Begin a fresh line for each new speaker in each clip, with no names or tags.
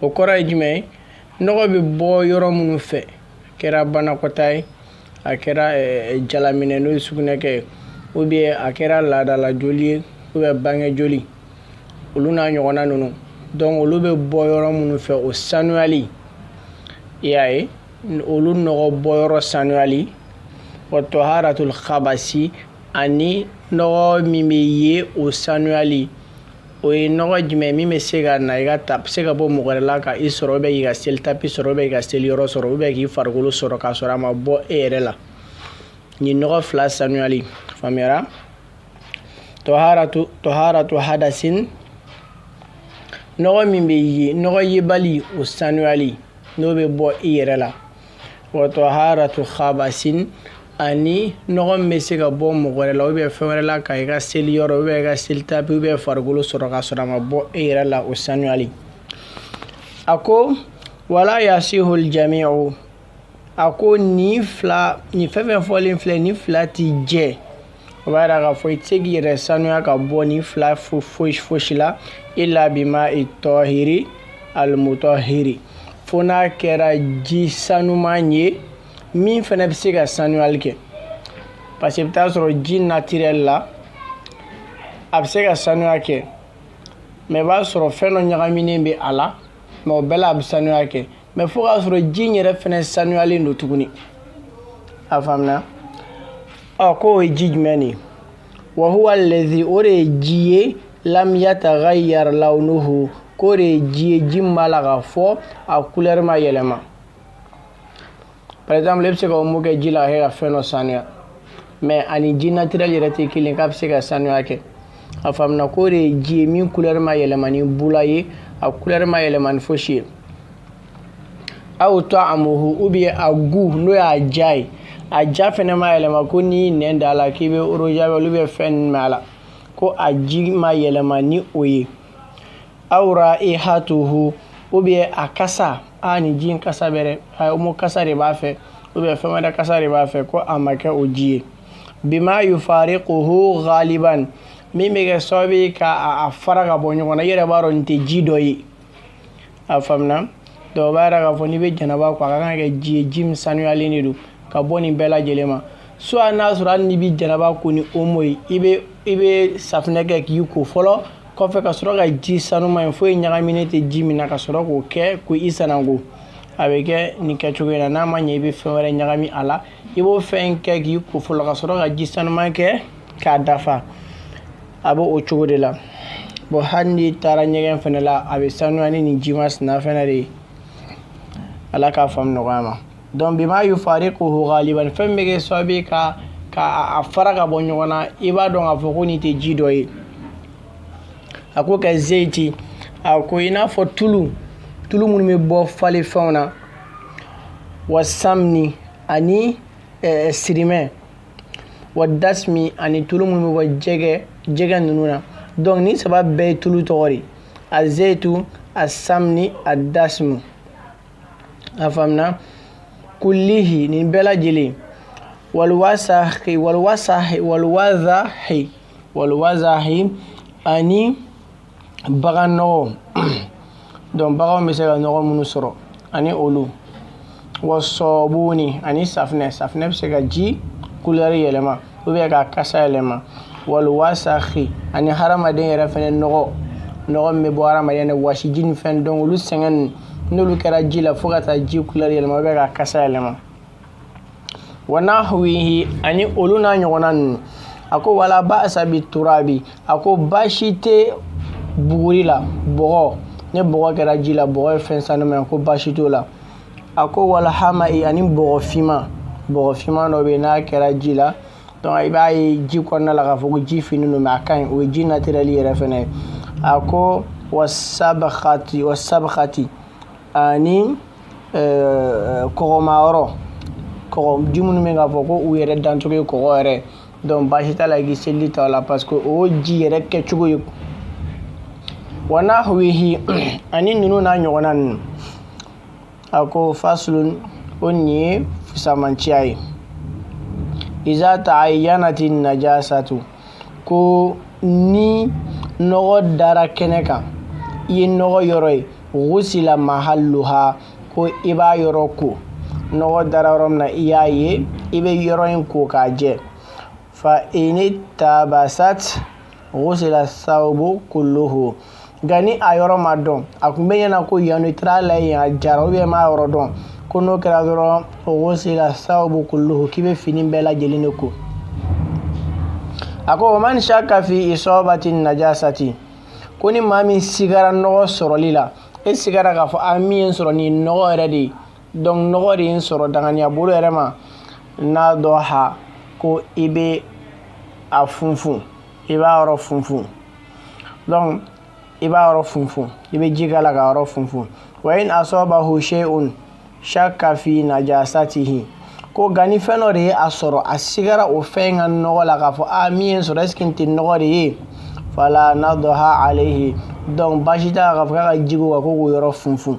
o kɔrɔ ye jumɛn ye nɔgɔ bɛ bɔ yɔrɔ minnu fɛ a kɛra banakɔta ye a kɛra eh, jalaminɛ n'o ye sugunɛkɛ ye ou bien a kɛra laadala joli ye ou bien bange joli olu n'a ɲɔgɔnna ninnu donc olu bɛ bɔ yɔrɔ minnu fɛ o sanuyali i y'a ye olu nɔgɔ bɔ yɔrɔ sanuyali wa tɔharatul khabasi ani nɔgɔ min bɛ ye o sanuyali o ye nɔgɔ jumɛn min bɛ se ka na i ka ta se ka bɔ mɔgɔ wɛrɛ la ka i sɔrɔ ou bien i ka seli tapi sɔrɔ ou bien k'i ka seli yɔrɔ sɔrɔ ou bien k'i farikolo sɔrɔ k'a sɔrɔ a ma bɔ e yɛrɛ la nin nɔgɔ fila sanuyali faamuyara tɔharatu tɔharatu hadasin nɔgɔ min bɛ ye nɔgɔ yebali o sanuyali n'o bɛ bɔ i yɛrɛ la wa tɔharatu khabasin ani nɔgɔ min bɛ se ka bɔ mɔgɔ wɛrɛ la ou bien fɛn wɛrɛ la ka i ka seli yɔrɔ ou bien i ka seli tapi ou bien farikolo sɔrɔ k'a sɔrɔ a ma bɔ e yɛrɛ la o sanuyali a ko wa la yasihul jamiu a ko nin fila nin fɛn fɛn fɔlen filɛ nin fila ti jɛ o b'a jira k'a fɔ i tɛ se k'i yɛrɛ sanuya ka bɔ nin fila fo foyi fosi la illa bil mai tɔhiri almutɔhiri fo n'a kɛra ji sanuman ye min fana bɛ se ka sanuyali kɛ parce que i bɛ t'a sɔrɔ ji natirɛli la a bɛ se ka sanuya kɛ mais i b'a sɔrɔ fɛn dɔ ɲagaminen bɛ a la mais o bɛɛ la a bɛ sanuya kɛ mais fo k'a sɔrɔ ji in yɛrɛ fɛnɛ sanuyalen don tuguni a faamuna ɔ ko o ye ji jumɛn de ye wa huwa allazi o de ye ji ye lam yataghayyar launuhu k'o de ye ji ye ji min b'a la k'a fɔ a kulɛri ma yɛlɛma par exemple e bɛ se ka omo kɛ ji la a kɛ ka fɛn dɔ sanuya mais a ni ji naturel yɛrɛ tɛ kelen k'a bɛ se ka sanuya kɛ a faamuna k'o de ye ji ye min couleur ma yɛlɛma ni bula ye a couleur ma yɛlɛma ni fosi ye aw tɔamuhu ou bien a goût n'o y'a ja ye a ja fɛnɛ ma yɛlɛma ko n'i nɛn da a la k'i bɛ eau de javel ou bien fɛn ninnu mɛ a la ko a ji ma yɛlɛma ni o ye aw raihatuhu ou bien a kasa a ni ji kasa bɛrɛ a o kasa de b'a fɛ ou bien fɛn wɛrɛ kasa de b'a fɛ ko a ma kɛ o ji ye bima yufarikuhu ghaliban min bɛ kɛ sababu ye ka a fara ka bɔ ɲɔgɔn na i yɛrɛ b'a dɔn nin tɛ ji dɔ ye a faamuna dɔw b'a yɛrɛ k'a fɔ n'i bɛ janaba ko a ka kan ka kɛ ji ye ji min sanuyalen de don ka bɔ nin bɛɛ lajɛlen ma so hali n'a sɔrɔ hali n'i bɛ janaba ko ni omo ye i bɛ i bɛ safinɛ kɛ k'i ko fɔlɔ kɔfɛ ka sɔrɔ ka ji sanuma ye foyi ɲagaminen tɛ ji min na ka sɔrɔ k'o kɛ ko i sananko a bɛ kɛ nin kɛcogo in na n'a ma ɲɛ i bɛ fɛn wɛrɛ ɲagami a la i b'o fɛn kɛ k'i ko fɔlɔ ka sɔrɔ ka ji sanuma kɛ k'a dafa a bɛ o cogo de la bɔn hali n'i taara ɲɛgɛn fana la a bɛ sanuya ni nin ji masina fana de ye ala k'a faamu nɔgɔya an ma Donc bima yufariquhu ghaliban fɛn min bɛ kɛ sababu ye ka ka a fara ka bɔ ɲɔgɔn na i b'a dɔn k'a fɔ ko nin tɛ ji dɔ ye a ko ka zeyiti a ko i n'a fɔ tulu tulu minnu bɛ bɔ falen fɛnw na wa samni ani eh, sirimɛ wa dasmi ani tulu minnu bɛ bɔ jɛgɛ jɛgɛ ninnu na donc nin saba bɛɛ ye tulu tɔgɔ de a zeyitu a samni a dasmu a faamuya kullihi nin bɛɛ lajɛlen walwazahi walwazahi walwazahi walwazahi ani bagan nɔgɔ donc baganw bɛ se ka nɔgɔ minnu sɔrɔ ani olu wa sɔbuni ani safinɛ safinɛ bɛ se ka ji kulɛri yɛlɛma u bɛ k'a kasa yɛlɛma walwasahi ani hadamaden yɛrɛ fana nɔgɔ nɔgɔ bɛ bɔ hadamaden waji ni fɛn dɔn olu sɛgɛn n'olu kɛra ji la fo ka taa ji kulɛri yɛlɛma bɛ k'a kasa yɛlɛma wa nahwihi ani olu n'a ɲɔgɔnna ninnu a ko wala baasa bi turabi a ko baasi tɛ buguri la bɔgɔ n'a kɛra ji la bɔgɔ ye fɛn sanuma ko baasi t'a la a ko walhamai ani bɔgɔ fiman bɔgɔ fiman dɔ bɛ yen n'a kɛra ji la donc i b'a ye ji kɔnɔna la k'a fɔ ko ji finnen don mais a ka ɲi o ye ji naturel yɛrɛ fɛnɛ ye a ko wasabkhati wasabkhati ani euh, kɔgɔma yɔrɔ kɔgɔ ji minnu bɛ k'a fɔ ko u yɛrɛ dancogo ye kɔgɔ yɛrɛ donc baasi t'a la i k'i seliji ta o la parce que o ji yɛrɛ kɛcogo ye wa nahwihi ani ninnu n'a ɲɔgɔnna ninnu a ko fasulun ko nin ye fusamanciya ye iza ta'ayyanati najasatu ko ni nɔgɔ dara kɛnɛ kan i ye nɔgɔ yɔrɔ ye gusila mahalluha ko i b'a yɔrɔ ko nɔgɔ dara yɔrɔ min na i y'a ye i bɛ yɔrɔ in ko k'a jɛ fa inil tabasat gusila sawbu kulluhu nka ni a yɔrɔ ma dɔn a kun b'i ɲɛ na ko yanni tira la yen a jara u bɛ m'a yɔrɔ dɔn ko n'o kɛra dɔrɔn gusila sawbu kulluhu k'i bɛ fini bɛɛ lajɛlen de ko a ko wa man shaka fi isabati najasati ko ni maa min sigara nɔgɔ sɔrɔli la e sigara k'a fɔ a min y'e sɔrɔ ni nɔgɔ yɛrɛ de ye donc nɔgɔ de in sɔrɔ danganiya bolo yɛrɛ ma nadɔha ko i bɛ a funfun i b'a yɔrɔ funfun donc i b'a yɔrɔ funfun i bɛ ji k'a la ka yɔrɔ funfun wa in asɔbahu shay'un shakka fi najasatihi ko nka ni fɛn dɔ de ye a sɔrɔ a sigara o fɛn in ka nɔgɔ la k'a fɔ a min y'i sɔrɔ est-ce que n tɛ nɔgɔ de ye fala nadɔha alehi donc baasi t'a k'a fɔ k'a ka jiko ka ko k'o yɔrɔ funfun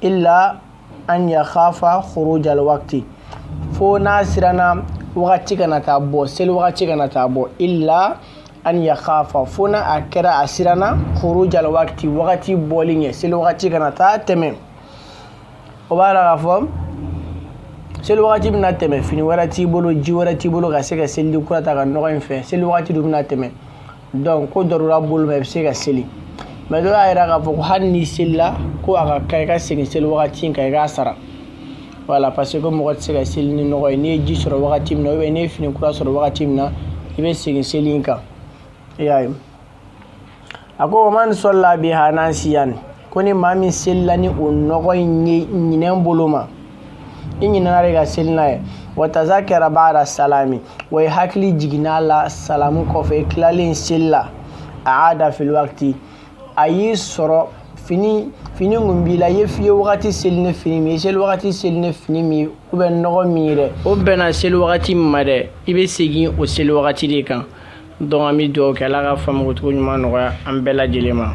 illa an ya khafa khuruj al waqti fo n'a siranna wagati kana taa bɔ seli wagati kana taa bɔ illa an ya khafa fo n'a a kɛra a siranna khuruj al waqti wagati bɔli ɲɛ seli wagati kana taa tɛmɛ o b'a la k'a fɔ seli wagati bɛna tɛmɛ fini wɛrɛ t'i bolo ji wɛrɛ t'i bolo ka se ka seliji kura ta ka nɔgɔ in fɛ seli wagati dun bɛna tɛmɛ donc ko darura bolo ma i bɛ se ka seli mais dɔ y'a jira k'a fɔ ko hali n'i selila ko a ka kan i ka segin seli wagati kan i k'a sara wala parce que mɔgɔ tɛ se ka seli ni nɔgɔ ye n'i ye ji sɔrɔ wagati min na ou bien n'i ye fini kura sɔrɔ wagati min na i bɛ segin seli in kan i y'a ye a ko wa man sɔla biha nasiyan ko ni maa min selila ni o nɔgɔ in ye ɲinɛ bolo ma i ɲinana de ka seli n'a ye wa tazakara ba'da salami wa i hakili jiginna la salamu kɔfɛ i tilalen seli la a'ada fil wakiti a y'i sɔrɔ fini fini tun b'i la i ye fiye wagati seli ni fini min i seli wagati seli ni fini min ye u bɛ nɔgɔ min ye dɛ o bɛnna seli wagati min ma dɛ i bɛ segin o seli wagati de kan donc an bɛ dugawu kɛ ala ka faamukocogo ɲuman nɔgɔya an bɛɛ lajɛlen ma